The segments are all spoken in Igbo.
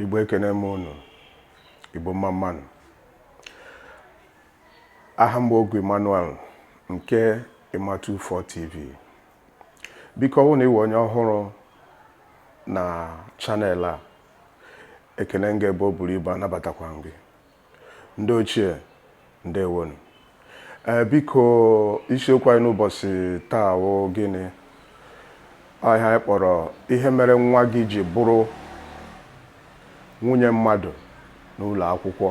igbo ekene m unu igbo mma mma nụ aha m bụ Ogwu Emmanuel nke Emma 24 TV biko ọ bụrụ na ị wụ onye ọhụrụ na channel a ekene m gị ebe o buru ibu anabatakwa m gị ndị ochie ndewonu ee biko isiokwu anyị n'ụbọchị taa wụ gịnị ọ ihe anyị kpọrọ ihe mere nwa gị ji bụrụ nwunye mmadụ n'ụlọ akwụkwọ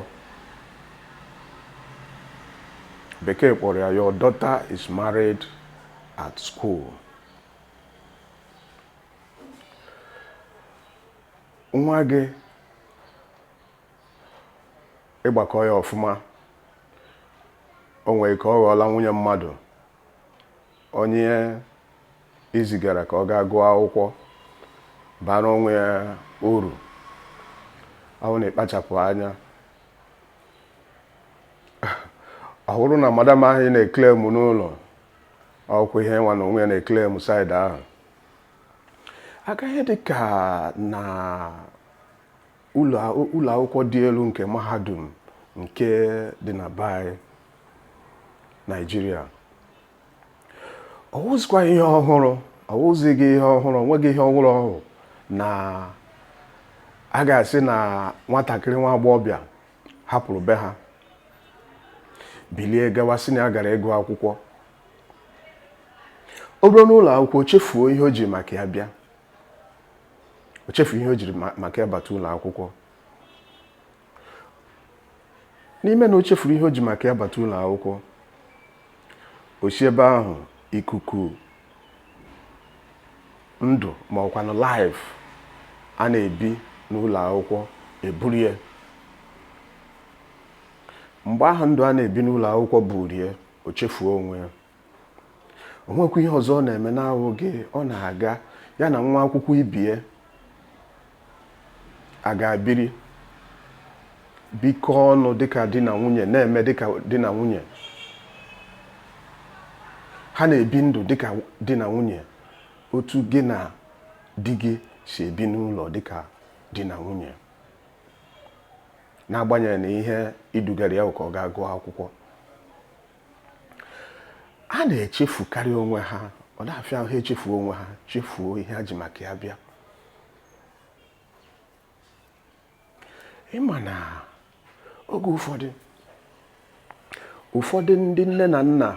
bekee kpọrọ ya your daughter is married at school nwa gị ị gbakọọ ya ọfụma o nwere ike ọ ghọọla nwunye mmadụ onye i zigara ka ọ gaa gụọ akwụkwọ bara onwe ya uru ọ wụ na ekpachapụ anya ọ bụrụ na madam ahụ ị na-eklem n'ụlọ ọ wụkwa ihe nwa na onwe ya na-eklem side ahụ aka ihe dị ka na ụlọ akwụkwọ dị elu nke mahadum nke dị na be anyị naijiria ọ wụzikwa ihe ọhụrụ ọ wụzighị ihe ọhụrụ o nweghị ihe ọhụrụ ọ wụ na a ga-asị na nwatakịrị nwa agbọghọbịa hapụrụ be ha bilie gawa sị na ya gara ịgụ akwụkwọ o ruo n'ụlọ akwụkwọ chefuo ihe o ji maka ya bịa o chefu ihe o jiri maka ya bata ụlọ akwụkwọ n'ime na o chefuru ihe o ji maka ya bata ụlọ akwụkwọ o si ebe ahụ ikuku ndụ ma ọkwanụ life a na-ebi n'ụlọ akwụkwọ eburu ya mgbe ahụ ndụ a na-ebi n'ụlọ akwụkwọ buru ya o chefuo onwe ya o nwekwa ihe ọzọ ọ na-eme na-awụghị ọ na-aga ya na nwa akwụkwọ ibe ya agaa biri bikọọ ọnụ dịka di na nwunye na-eme dịka di na nwunye ha na-ebi ndụ dịka di na nwunye otu gị na di gị si ebi n'ụlọ dịka di na nwunye n'agbanyeghị na ihe i dugara ya ka ọ gaa gụọ akwụkwọ ha na-echefukarị onwe ha ọ na-afịa ha echefuo onwe ha chefuo ihe ha ji maka ya bịa ị ma na oge ụfọdụ ụfọdụ ndị nne na nna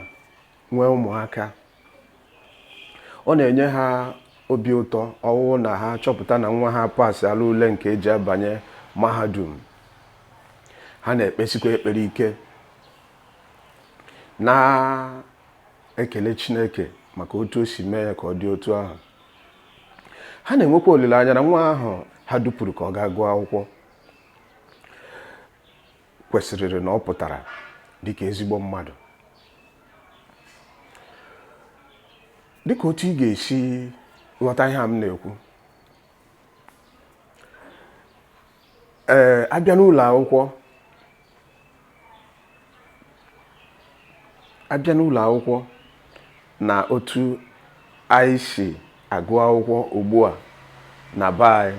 nwee ụmụaka ọ na-enye ha obi ụtọ ọ wụrụ na ha chọpụta na nwa ha pasịala ule nke e ji abanye mahadum ha na-ekpesikwa ekpere ike na-ekele Chineke maka otu o si mee ya ka ọ dị otu ahụ ha na-enwekwa olileanya na nwa ahụ ha dupụrụ ka ọ gaa gụọ akwụkwọ kwesịrịrị na ọ pụtara dịka ezigbo mmadụ dịka otu ị ga-esi ghọta ihe a m na-ekwu ee a bịa n'ụlọ akwụkwọ a bịa n'ụlọ akwụkwọ na otu anyị si agụ akwụkwọ ugbu a na be anyị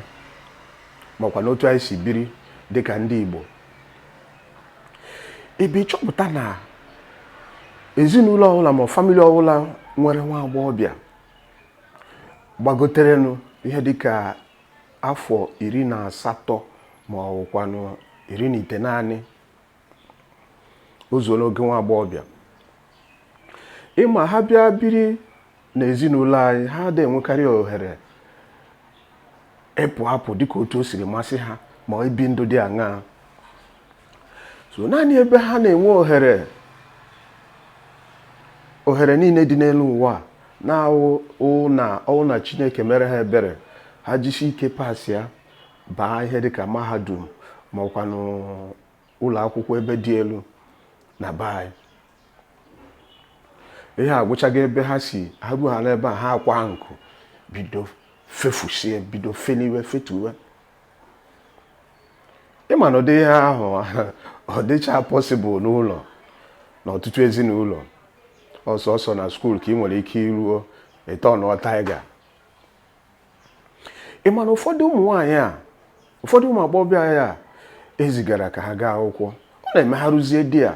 makwa n'otu anyị si biri dịka ndị Igbo ebe ị chọpụta na ezinụlọ ọbụla ma family ọbụla nwere nwa agbọghọbịa gbagoterenụ ihe dịka afọ iri na asatọ ma ọ bụkwanụ iri na itenaanị o zuo n'oge nwa agbọghọbịa ị ma ha bịa biri n'ezinụlọ anyị ha adịghị enwekarị ohere ịpụ apụ dịka otu o siri masị ha ma ibi ndụ dị aṅaa sọ naanị ebe ha na-enwe ohere ohere niile dị n'elu ụwa na-awụ na ọ wụ na Chineke mere ha ebere ha jisi ike pasịa baa ihe dịka mahadum ma ọkwanụ ụlọ akwụkwọ ebe dị elu na be anyị ihe agwụchaghị ebe ha si ha ruo ha n'ebe a ha akwaa nku bido fefusie bido feniwe fetuwe ị ma na ụdị ihe ahụ ọ dịchaghị possible n'ụlọ na ọtụtụ ezinụlọ ọ sọsọ na school ka ị nwere ike iruo ịtọnụọ taiga ị ma na ụfọdụ ụmụ nwaanyị a ụfọdụ ụmụ agbọghọbịa a e zigara ka ha gaa akwụkwọ ọ na-eme ha ruzie there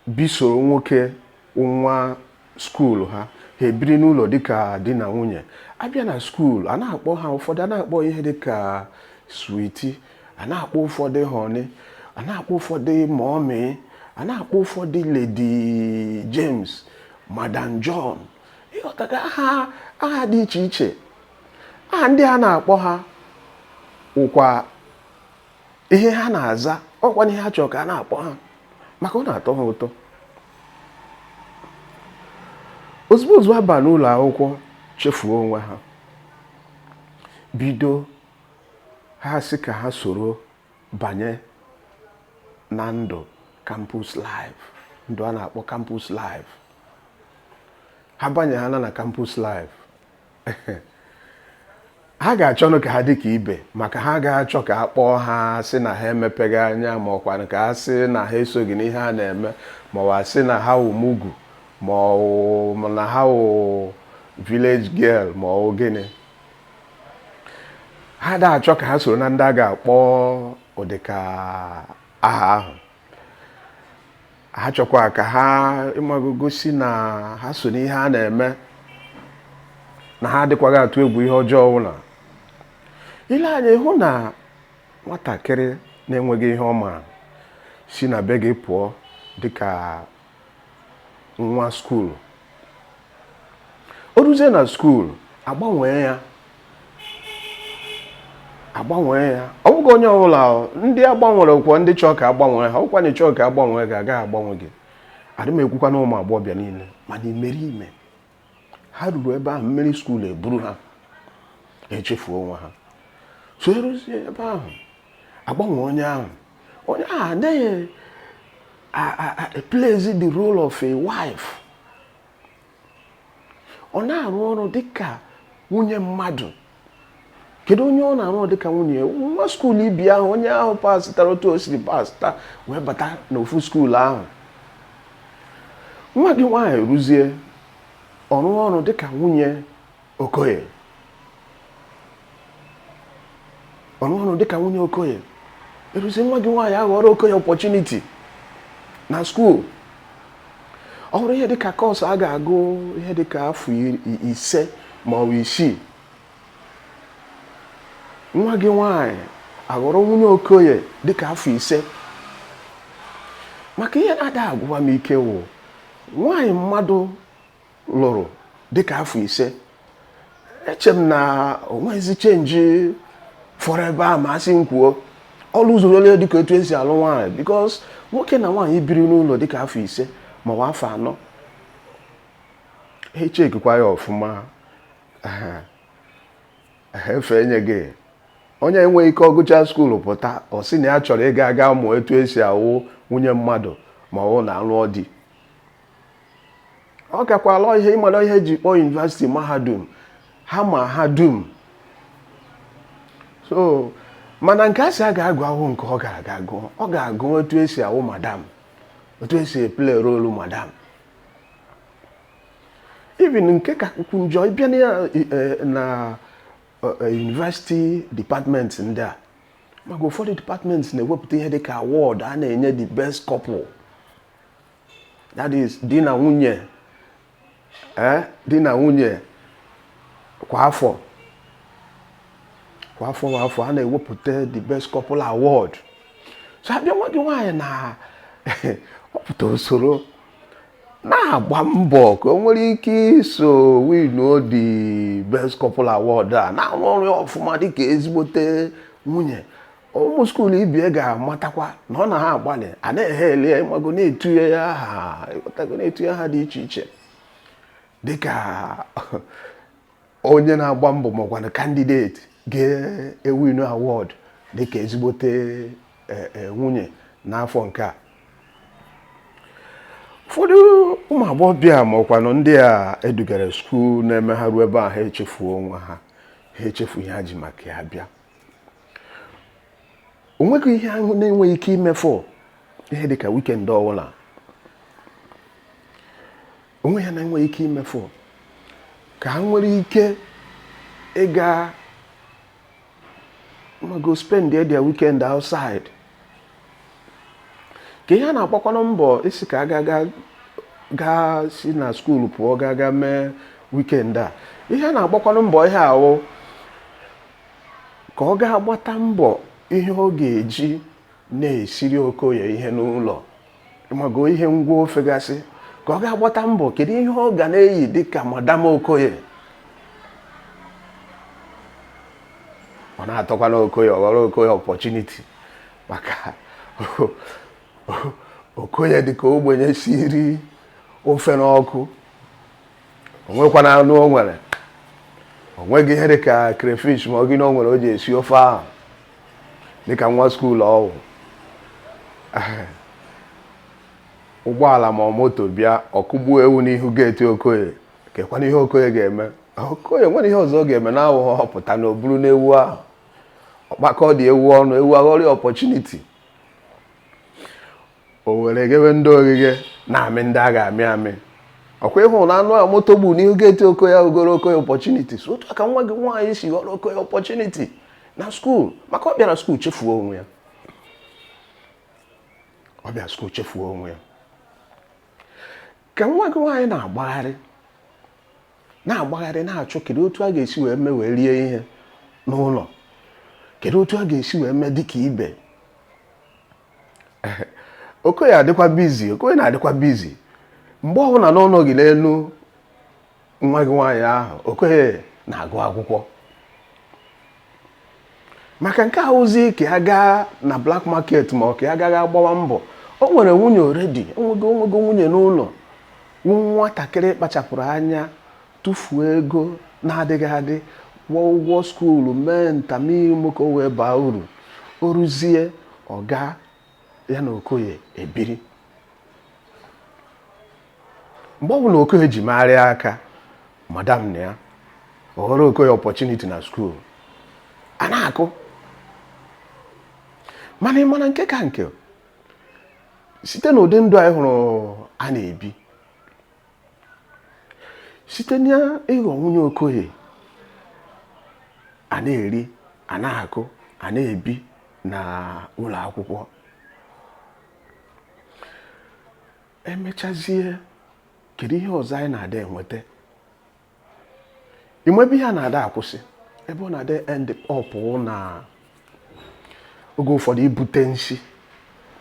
bisoro nwoke nwa school ha ha ebiri n'ụlọ dịka di na nwunye a bịa na school a na-akpọ ha ụfọdụ a na-akpọ ihe dịka sweetie a na-akpọ ụfọdụ honey a na-akpọ ụfọdụ mummy a na-akpọ ụfọdụ Lady James Madam John ị ghọtaga aha aha dị iche iche aha ndị a na-akpọ ha ụkwa ihe ha na-aza ọkwa ihe ha chọrọ ka a na-akpọ ha maka ọ na-atọ ha ụtọ ozugbo ozugbo a ba n'ụlọ akwụkwọ chefuo onwe ha bido ha sị ka ha soro banye na ndụ campus life ndụ a na-akpọ campus life ha banye ha na na campus life ha ga-achọnụ ka ha dị ka ibe maka ha ga-achọ ka a kpọọ ha sị na ha emepeghị anya ma ọkwa ka ha sị na ha esoghị n'ihe a na-eme ma ọ sị na ha wụ mugu ma na ha wụ village girl ma ọ gịnị ha da-achọ ka ha soro na ndị a ga-akpọ ụdịka aha ahụ ha chọkwa ka ha ị mago gosi na ha so n'ihe a na-eme na ha adịkwaghị atụ egwu ihe ọjọọ ọbụla i lee anya ị hụ na nwatakịrị na-enweghị ihe ọ ma si na be gị pụọ dịka nwa skuulu o ruzie na skuulu agbanwee ya agbanwee ya ọ bụghị onye ọbụla ndị agbanwere wụkwa ndị chọọ ka agbanwee ha ọ wụkwa na ị chọọ ka agbanwee gị agaghị agbanwe gị adị m ekwukwa na ụmụ agbọghọbịa niile mana imeriime ha ruru ebe ahụ mmiri skuul eburu ha echefuo onwe ha so eruzie ebe ahụ agbanwe onye ahụ onye ahụ na-eplayzi the role of a wife ọ na-arụ ọrụ dịka nwunye mmadụ kedu onye ọ na-arụ dị ka nwunye nwa skuulu ibe ya ahụ onye ahụ pasịtara otu o siri pasịta wee bata n'ofu skuulu ahụ nwa gị nwaanyị rụzie ọrụ ọrụ dị ka nwunye okoye ọrụ ọrụ dịka nwunye okoye eruzie nwa gị nwaanyị aghọrọ okoye opportunity na skuul ọ wụrụ ihe dịka course a ga-agụ ihe dịka afọ ise ma ọ bụ isii nwa gị nwaanyị aghọrọ nwunye okoye dịka afọ ise maka ihe na-ada agwụwa m ike wụ nwaanyị mmadụ lụrụ dịka afọ ise eche m na o nweghịzi change fọrọ ebe a ma a sị m kwuo ọ lụzurole dịka etu esi alụ nwaanyị because nwoke na nwaanyị biri n'ụlọ dịka afọ ise maọbụ afọ anọ e chekikwa ya ọfụma efe enye gị onye enweghị ike ọ gụcha skuulu pụta ọ sị na ya chọrọ ịga aga mụọ etu esi awụ nwunye mmadụ ma ọ wụ na ọ lụọ di ọ gakwala ihe ịmara ihe e ji kpọọ yunivasiti mahadum ha ma ha dum so mana nke a sị ya gaa gụọ awụghọ nke ọ ga-aga gụọ ọ ga-agụ otu esi awụ madam otu esi e-play role madam even nke kakwu njọ ịbịa na eh, eh, eh, university department ndị a maka ụfọdụ department na-ewepụta ihe dịka award a na-enye the best couple that is di na nwunye eh, di na nwunye kwa afọ kwa afọ kwa afọ a na-ewepụta the best couple award so abịa nwa gị nwaanyị na ọ pụta o soro na-agba mbọ ka o nwere ike iso winuo the best couple award a na-arụ ọrụ ya ọfụma dịka ezigbote nwunye ụmụ skuulu ibe ya ga-amatakwa na ọ na ha agbalị a na-ehe ele ya ịmago na-etunye ya aha ịghọtago na-etunye aha dị iche iche dịka onye na-agba mbọ makwanụ candidate ga-ewinu award dịka ezigbote e, e, nwunye n'afọ nke a ụfọdụ ụmụ agbọghọbịa makwanụ ndị a edugara skuul na-eme ha ruo ebe a ha echefuo onwe ha ha echefuo ihe ha ji maka ya bịa o nweghị ihe ha na-enweghị ike imefu ihe dịka weekend ọbụla o nweghị ihe ha na-enweghị ike imefu ka ha nwere ike ịga mago spend their weekend outside ka ihe a na-agbakwanụ mbọ isi ka ha ga-aga si na skuulu pụọ gaa gaa mee weekend a ihe a na-agbakwanụ mbọ ihe ahụ ka ọ gaa gbata mbọ ihe ọ ga-eji na-esiri Okoye ihe n'ụlọ mago ihe ngwa ofe gasị ka ọ gaa gbata mbọ kedu ihe ọ ga na-eyi dịka madam Okoye ọ na-atọkwana Okoye ọ ghọrọ Okoye opportunity maka Okoye dịka ogbenye siri ofe n'ọkụ o nwekwana anụ o nwere o nweghị ihe dịka crayfish ma ọ gịnị o nwere o ji esi ofe ahụ dịka nwa skuul ọ wụ ụgbọala ma ọ moto bịa ọ kụgbuo ewu n'ihu gate Okoye kekwanụ ihe Okoye ga-eme Okoye nwere ihe ọzọ ọ ga-eme na-awụghọ ọ pụta na o buru n'ewu ahụ ọkpakọ dị ewu ọnụ ewu aghọrọ opportunity o were ghewe ndị oghighe na-amị ndị a ga-amị amị ọkwa ịhụ na anụ a moto gburu n'ihu geeti okoye ọ ghọrọ okoye opportunity so otu a ka nwa gị nwaanyị si ghọrọ okoye opportunity na skuul maka ọ bịara skuul chefuo onwe ya ọ bịara skuul chefuo onwe ya ka nwa gị nwaanyị na-agbagharị na-agbagharị na-achọ kedu otu a ga-esi wee mee wee rie ihe n'ụlọ kedu otu a ga-esi wee mee dịka ibe okoye adịkwa busy okoye na-adịkwa busy mgbe ọbụla na ọ nọghị n'elu nwa gị nwaanyị ahụ okoye na-agụ akwụkwọ maka nke ahụzi ka ya gaa na black market ma ọ ka ya gaa gbawa mbọ o nwere nwunye already o nwego nwunye n'ụlọ nwatakịrị kpachapụrụ anya tụfuo ego na-adịghị adị kwụọ ụgwọ skuulu mee nta mee imo ka o wee baa uru o ruzie ọ gaa ya na okoye ebiri mgbe ọ bụla okoye ji megharịa aka madam na ya ọ ghọrọ okoye opportunity na skuulu a na-akụ mana ị ma na nke ka nke site n'ụdị ndụ anyị hụrụ a na-ebi site n'ịghọ nwunye okoye a na-eri a na-akụ a na-ebi na ụlọ akwụkwọ emechazie kedu ihe ọzọ anyị na-ada enweta ị ma ebe ihe a na-ada akwụsị ebe ọ na-ada end up na oge ụfọdụ ibute nsi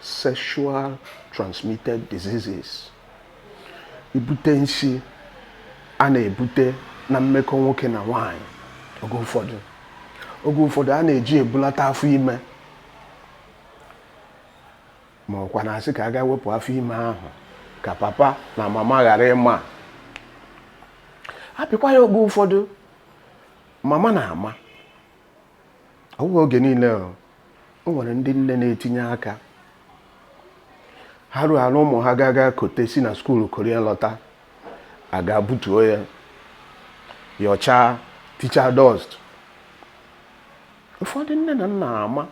sexual transmitted diseases ibute nsi a na-ebute na mmekọ nwoke na nwaanyị oge ụfọdụ oge ụfọdụ a na-eji ebulata afọ ime ma ọkwa na-asị ka a gaa wepụ afọ ime ahụ ka papa na mama ghara ịma hapụkwa ya oge ụfọdụ mama na-ama ọ bụghị oge niile o o nwere ndị nne na-etinye aka ha ruo ala ụmụ ha ga aga kote nsi na skuulu koro ya lọta a gaa butuo ya yọchaa tichaa dust ụfọdụ nne na nna ama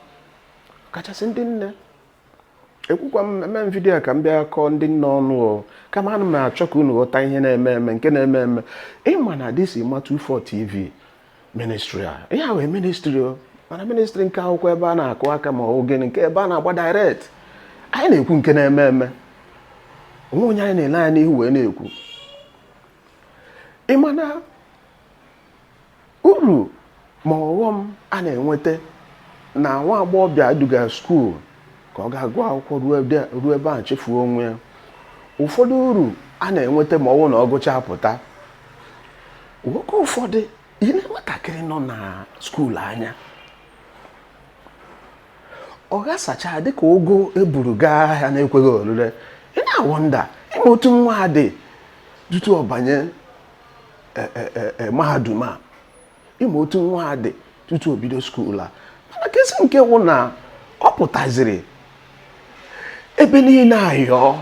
kachasị ndị nne ekwukwa m eme m vidiyo ka m bịa kọọ ndị nne ọnụ o kama ana m achọ ka unu ghọta ihe na-eme eme nke na-eme eme ị ma na this is Ma 24 TV ministry a ihe a wụ ministry o mana ministry nke a awụkwa ebe a na-akụ aka ma ọ bụ gịnị nke ebe a na-agba direct anyị na-ekwu nke na-eme eme o nwe onye anyị na-ele anya n'ihu wee na-ekwu ịmana Uru ma ọghọm a na-enweta na nwa agbọghọbịa e duga skuul ka ọ gaa gụọ akwụkwọ ruo ebe ahụ chefuo onwe ya. Ụfọdụ uru a na-enweta ma ọ wụ na ọ gụchaa pụta. Oge ụfọdụ i lee nwatakịrị nọ na skuul anya ọ ghasachaa dịka ụgụ e buru gaa ahịa na-ekweghị orire ị na-awọnda ị ma otu nwa a dị tutu ọ banye e, e, e, mahadum a ị ma otu nwa a dị tutu o bido skuul a mana kasị nke wụ na ọ pụtaziri ebe niile ayọọ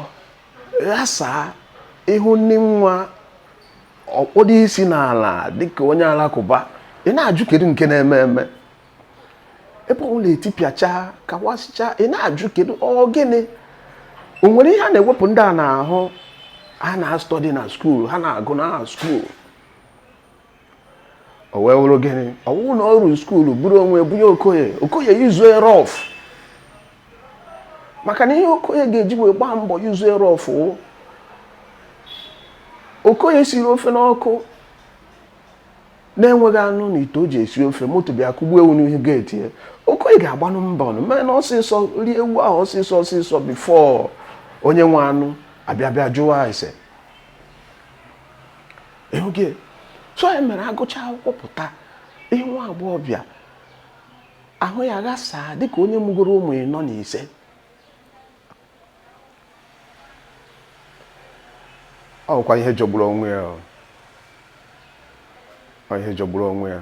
ghasaa ị hụnụ nwa ọ kpọdo isi n'ala dịka onye alakụba ị na-ajụ kedu nke na-eme eme ebe ọ wụla etipịacha kawasịcha ị na-ajụ kedu ọ gịnị o nwere ihe a na-ewepụ ndị a n'ahụ ha na-study na skuul ha na-agụ na skuul o wee wụrụ gịnị ọ wụ na o ruo skuul buru onwe bunye Okoye Okoye use ya rough maka na ihe Okoye ga-eji wee gbaa mbọ use ya rough Okoye siri ofe n'ọkụ na-enweghị anụ n'ite o ji esi ofe moto bịa kụgbuo ewu n'ihu geeti ya Okoye ga-agbanụ mbọ nụ mee na ọsịsọ rie ewu ahụ ọsịsọ ọsịsọ before onye nwe anụ abịa bịa jụwa ese ịhụghị so ya mere a gụchaa akwụkwọ pụta ị hụ nwa agbọghọbịa ahụ ya ghasaa dịka onye mụgoro ụmụ ịnọ na ise ọ bụkwa ihe jọgburu onwe ya ọ ihe jọgburu onwe ya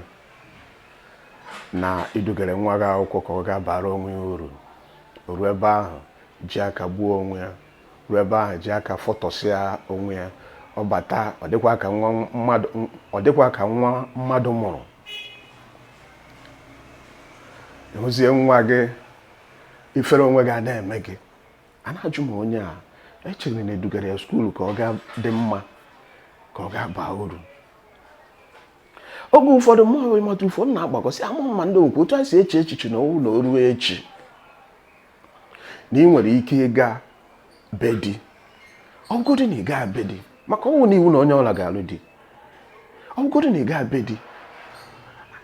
na i dugara nwa gị akwụkwọ ka ọ gaa bara onwe ya uru ruo ebe ahụ ji aka gbuo onwe ya ruo ebe ahụ ji aka fọtọsịa onwe ya ọ bata ọ dịkwa ka nwa mmadụ ọ dịkwa ka nwa mmadụ mụrụ ị hụzie nwa gị ifere onwe gị a na-eme gị a na-ajụ ma onye a e chere na e dugara ya skuulu ka ọ gaa dị mma ka ọ gaa baa uru oge ụfọdụ mụ hụrụ ịmata ụfọdụ na-agbakọsị ama mma ndị okwu otu a si eche echiche na ọ wụ na o ruo echi na ị nwere ike ịga be di ọ wụgodi na ị gaa be di maka ọ wụ na iwu na onye ọ wụla ga-alụ di ọ wụgodi na ị gaa be di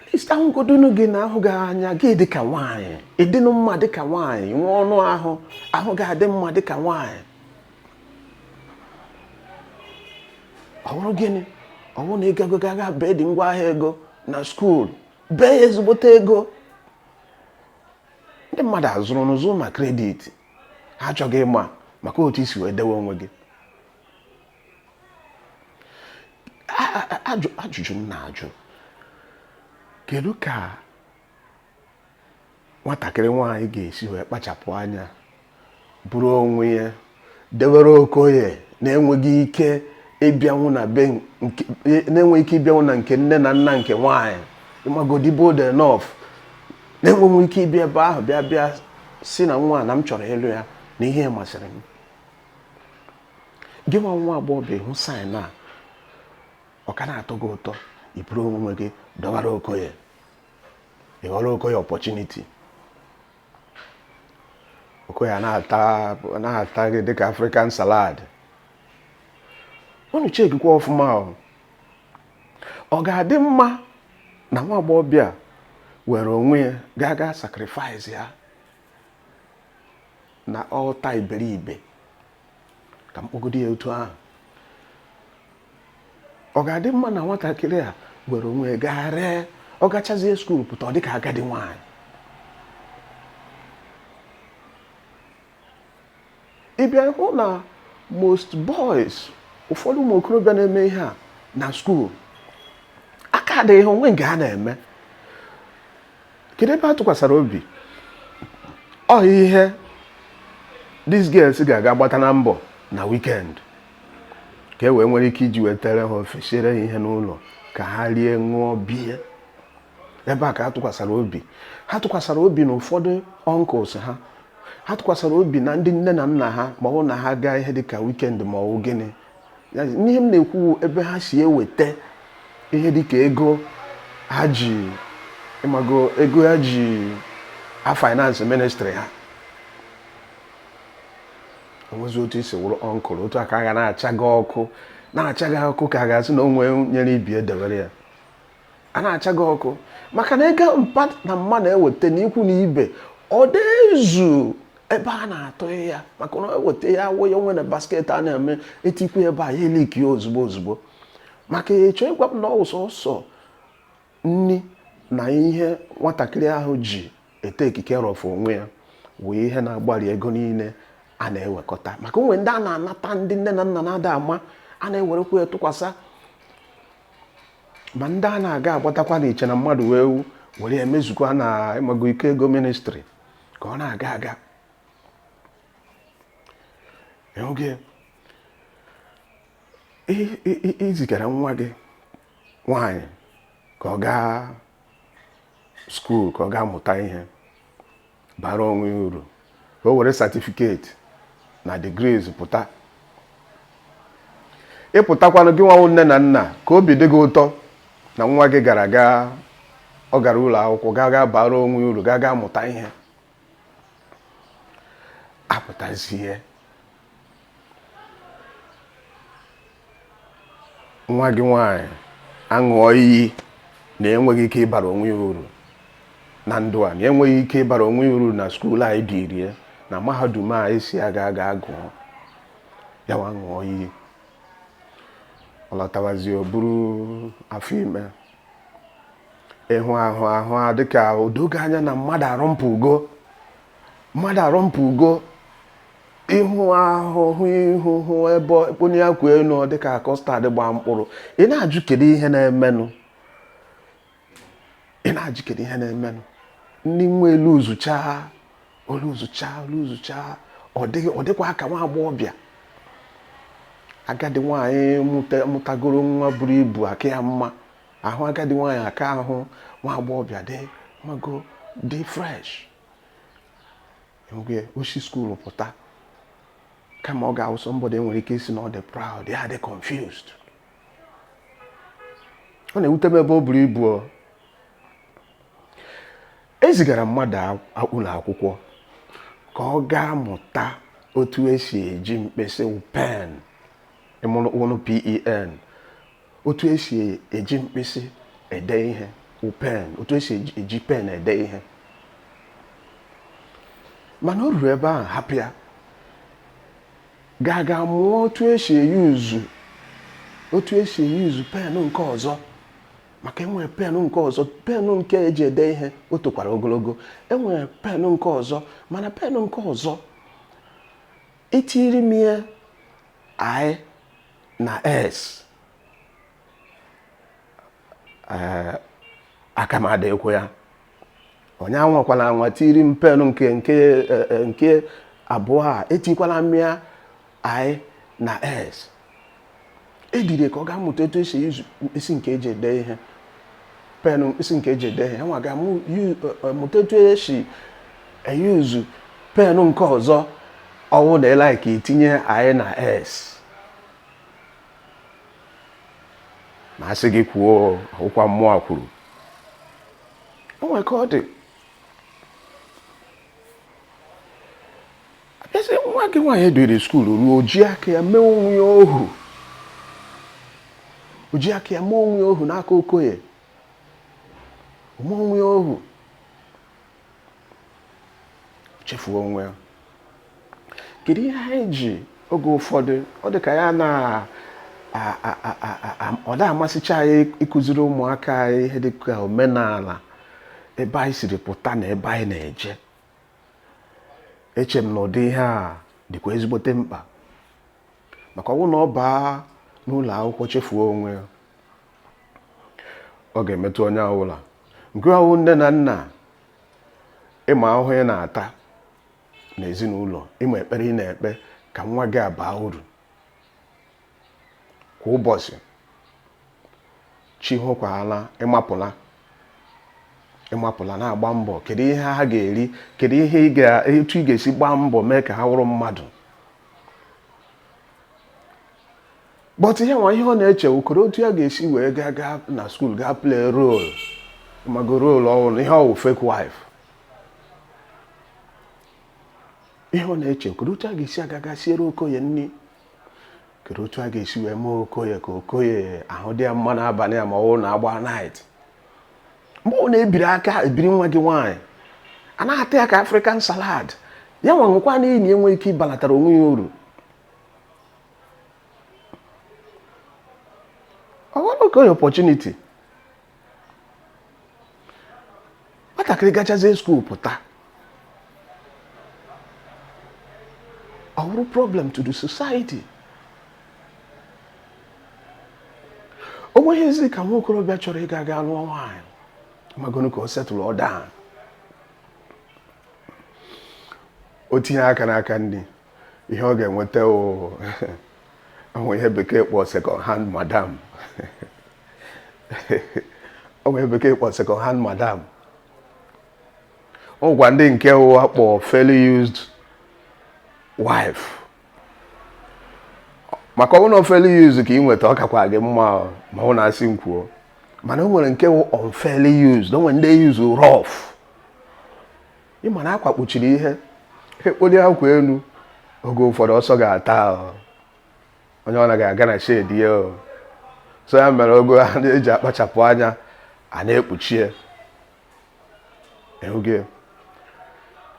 at least ahụgodonu gị na ahụ gị anya gị dị ka nwaanyị ị dịnụ mma dị ka nwaanyị nwee ọnụ ahụ ahụ gị adị mma dị ka nwaanyị ọ wụrụ gịnị ọ wụ na ị gago gaga be di ngwa ahịa ego na skuul bee ya ezigbote ego ndị mmadụ azụrụ n'ụzụ ma credit ha achọghị ịma maka otu i si wee dewe onwe gị ajụjụ m na-ajụ kedu ka nwatakịrị nwaanyị ga-esi wee kpachapụ anya buru onwe ya dewere okoye na-enweghị ike ịbịanwụ na nke nne na nna nke nwaanyị ịmago dị bold enough na-enweghị ike ịbịa ebe ahụ bịa bịa sị na nwa a na m chọrọ ịlụ ya na ihe ya masịrị m gị nwa nwa agbọghọbịa hụ sign a ọ ka na-atọ gị ụtọ iburu onwe gị dọbara okoye ịghọrọ okoye opportunity okoye a na-ata gị dịka african salad unu chekikwa ọfụma o ọ ga-adị mma na nwa agbọghọbịa were onwe ya gaa gaa sacrifice ya na altar iberibe ka m kpọgodi ya otu ahụ ọ ga-adị mma na nwatakịrị a were onwe ya gaa ree ọ gachazie school pụta ọ dị ka agadi nwaanyị ị bịa hụ na most boys ụfọdụ ụmụ okorobịa na-eme ihe a na school aka dịghị ihe onwe nke ha na-eme kedu ebe ha tụkwasara obi ọ ihe these girls ga-aga gbata na mbọ na weekend ka e wee nwere ike iji wetere ha ofe siere ha ihe n'ụlọ ka ha rie ṅụọ beer ebe a ka ha tụkwasara obi ha tụkwasara obi na ụfọdụ uncles ha ha tụkwasara obi na ndị nne na nna ha ma ọ wụ na ha gaa ihe dịka weekend ma ọ wụ gịnị ihe m na-ekwu ebe ha si eweta ihe dịka ego ha ji ịmago ego ha ji a finance ministry ha o nwezi otu i si wụrụ uncle otu a ka a ga na-acha gị ọkụ na-acha gị ọkụ ka a ga-asị na o nwe nyere ibi edewere ya a na-acha gị ọkụ maka na ego mpa na mma na-eweta n'ikwu na ibe ọ da ezu ebe a na-atụ ya maka na eweta ya awụ ya onwe na basket a na-eme etikwu ebe a ya eliki ya ozugbo ozugbo maka ị chọ ịgwa m na ọ sọsọ nni na ihe nwatakịrị ahụ ji ete ekike rọfụ onwe ya wụ ihe na-agbari ego niile a na-ewekọta maka o nwe ndị a na-anata ndị nne na nna na-ada ama a na-ewerekwa ya tụkwasa ma ndị a na-aga agbatakwa na iche na mmadụ wee wu were emezukwa na ịmago ike ego ministry ka ọ na-aga aga oge i zigara nwa gị nwaanyị ka ọ gaa skuul ka ọ gaa mụta ihe bara onwe ya uru ka o were certificate na degrees pụta ịpụtakwanụ gị nwa wụ nne na nna ka obi dị gị ụtọ na nwa gị gara gaa ọ gara ụlọ akwụkwọ gaa gaa bara onwe ya uru gaa gaa mụta ihe apụtazie nwa gị nwanyị aṅụọ iyi na enweghị ike ịbara onwe ya uru na ndụ a na enweghị ike ịbara onwe ya uru na skuul anyị dịrie na mahadum a ị sị ya gaa gaa gụọ ya nwa ṅụọ iyi ọ lọtawazie o buru afọ ime ịhụ ahụ ahụ a dịka o doo gị anya na mmadụ arọmpụgo mmadụ arọmpụgo ịhụ ahụ hụ ihu hụ ebe onye ya kwụ elu dịka custard gbaa mkpụrụ ị na-ajụ kedu ihe na-emenụ ị na-ajụ kedu ihe na-emenụ ndị nwa elezuchaa elezuchaa elezuchaa ọ dịkwa aka nwa agbọghọbịa agadi nwaanyị mụtagoro nwa buru ibu aka ya mma ahụ agadi nwaanyị aka ahụ nwa agbọghọbịa mma ọ dị fresh oge o si skuul pụta kama ọ ga-awụ somebody enwere ike ịsị na ọ dị proud ya dị confused ọ na-ewute m ebe o buru ibu ezigara mmadụ ụlọ akwụkwọ ka ọ gaa mụta otu esi eji mkpịsị pen ị nụrụ pen otu esi eji mkpịsị ede ihe pen otu esi eji pen ede ihe mana o ruru ebe ahụ hapụ ya gaa gaa mụọ otu esi eyuzu otu esi eyuzu pen nke ọzọ maka enwere pen nke ọzọ pen nke eji ede ihe o tokwara ogologo enwere pen nke ọzọ mana pen nke ọzọ i tiri m ya i na s eh, aka m adịkwa ya onye anwakwala anwa tiri m pen nke nke eh, eh, nke abụọ a etikwala m ya i na s edire ka ọ gaa mụta etu esi eyuzu mkpịsị nke eji ede ihe pen mkpịsị nke eji ede ihe ya nwa gaa mụ yu- eh, eh, mụta etu esi eyuzu pen nke ọzọ ọ wụ na ị like itinye i na s ma a sị gị kwuo ụka mụwa kwuru o nwee ka ọ dị abịazi nwa gị nwaanyị e duuru skuulu ruo o ji aka ya mee onwe ya ohu o ji aka ya mee onwe ya ohu n'aka okoye o mee onwe ya ohu chefuo onwe ya kedu ihe anyị ji oge ụfọdụ ọ dị ka ya na ọ da amasịcha anyị ịkụziri ụmụaka anyị ihe dị ka omenala ebe anyị siri pụta na ebe anyị na-eje eche m na ụdị ihe a dịkwa ezigbote mkpa maka ọ wụ na ọ baa n'ụlọ akwụkwọ chefuo onwe ya ọ ga-emetụ onye ọbụla nke wụ nne na nna ịma ahụhụ ị na-ata n'ezinụlọ ịma ekpere ị na-ekpe ka nwa gị abaa uru kwa ụbọchị chi hokwala ị mapụla ị mapụla na-agba mbọ kedu ihe ha ga-eri kedu ihe etu ị ga-esi gbaa mbọ mee ka ha wụrụ mmadụ but ihe nwa ihe ọ na-eche okoro otu ya ga-esi wee gaa gaa na skuul gaa play role mago role ọhụrụ ihe ọ wụ fake wife ihe ọ na-eche okoro otu a ga-esi aga gaa siere okoye nri kedu otu a ga-esi wee mee okoye ka okoye ahụ dị ya mma n'abalị a ma ọ na agba night mgbe ọ na-ebiri aka ebiri nwa gị nwaanyị a na-ata ya ka african salad ya nwa nwekwa na enyi enwe ike ịbalatara onwe ya uru ọwaoge opportunity nwatakịrị gachazie skuul pụta ọ wụrụ problem to the society o nweghịzi ka nwa okorobịa chọrọ ịga ga lụọ nwaanyị magonu ka o settle down o tinye aka n'aka ndị ihe ọ ga-enweta o nwe ihe bekee kpọ second hand madam o nwe ihe bekee kpọ second hand madam o nwekwa ndị nke a kpọ fairly used wife maka ọ wụ na fairly used ka ị nweta ọ kakwa gị mma ma ọ wụ na a sị m kwuo mana o nwere nke wụ unfairly used o nwere ndị use rough ị ma na akwa kpuchiri ihe e kpolie akwa elu oge ụfọdụ ọsọ ga-ata ahụ onye ọ naghị aga na shedi ya o so ya mere oge a na-eji akpachapụ anya a na-ekpuchie ehuge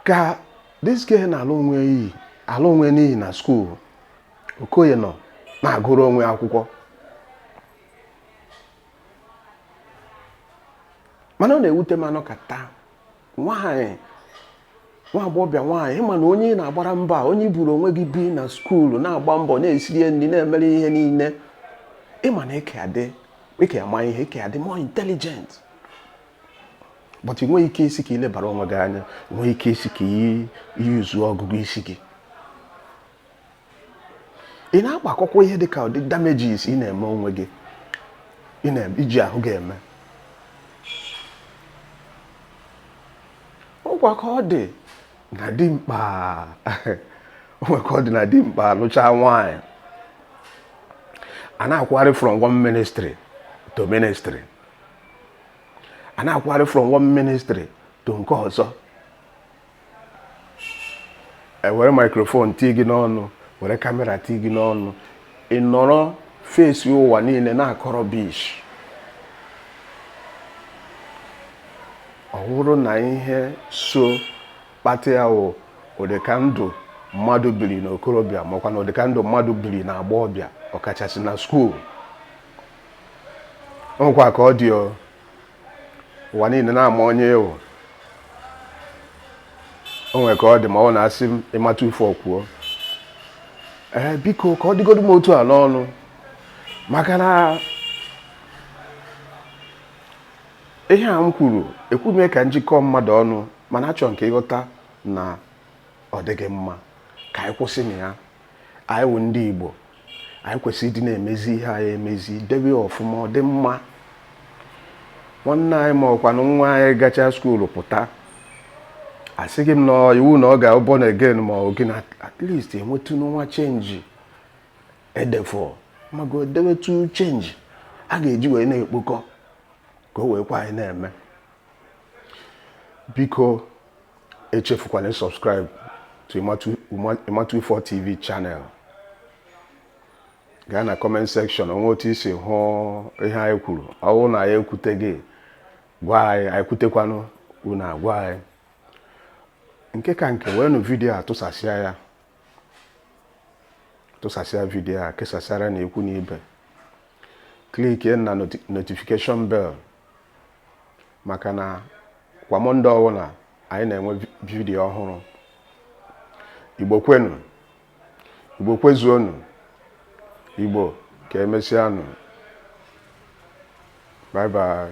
ka this girl na-ala onwe n'iyi ala onwe n'iyi na skuul okoye nọ na-agụrụ onwe akwụkwọ mana ọ na-ewute m a nọkata nwaanyị nwa agbọghọbịa nwaanyị ịma na onye ị na-agbara mbọ onye i buru onwe gị bi na skuulu na-agba mbọ na-esiri ya nri na-emere ihe niile ịma na ị ka adị ị ka ya ama ihe ị ka ya adị more intelligent but ị nweghị ike ịsị ka i lebara onwe gị anya ị nweghị ike ịsị ka i yuuzuo ọgụgụ isi gị ị na-agbakọkwa ihe dị ka ụdị damages ị na-eme onwe gị iji ahụ gị eme ọkwa ka ọ dị na dimkpa o nwe ka ọ dị na dimkpa lụchaa nwaanyị a na-akwụgharị from one ministry to ministry a na-akwụgharị from one ministry to nke ọzọ e were maikrofon tii gị n'ọnụ were kamera tii gị n'ọnụ ị nọrọ fesi ụwa niile na-akọ rubbish ọ bụrụ na ihe so kpata ya wụ ụdịka ndụ mmadụ biri n'okorobịa makwa na ụdịka ndụ mmadụ biri na agbọghọbịa ọkachasị na skuul ọkwa ka ọ dị ụwa niile na-ama onye ị wụ o nwere ka ọ dị ma ọ na-asị m ịmata ife o kwuo ee biko ka ọ dịgodu m otu a n'ọnụ maka na ihe a m kwuru ekwuru m ya ka m jikọọ mmadụ ọnụ mana achọ m ka ị ghọta na ọ dịghị mma ka anyị kwụsịnụ ya anyị wụ ndị Igbo anyị kwesịrị ịdị na-emezi ihe anyị emezi debe ọfụma ọ dị mma nwanne anyị ma ọkwanụ nwa anyị gacha skuulu pụta asịghị m na iwu na ọ ga-abụ born again ma ọ gị na at least e nwetụnụ nwa chenji edefọ mago dewetu chenji a ga-eji wee na-ekpokọ ka o wee kwa anyị na-eme biko echefukwala subscribe to Imatu Ifor TV channel gaa na comment section o nwe otu i si hụ ihe anyị kwuru ọ wụ na anyị ekwuteghị gwa anyị anyị kwutekwanụ unu agwa anyị nke ka nke weenụ vidiyo a tụsasịa ya tụsasịa vidiyo a kesasịaranụ ikwu na ibe klikie na notification bell maka na kwa mọnde ọbụla anyị na-enwe vidiyo ọhụrụ igbo kwenu igbo kwezuonu igbo ka emesịanụ bye bye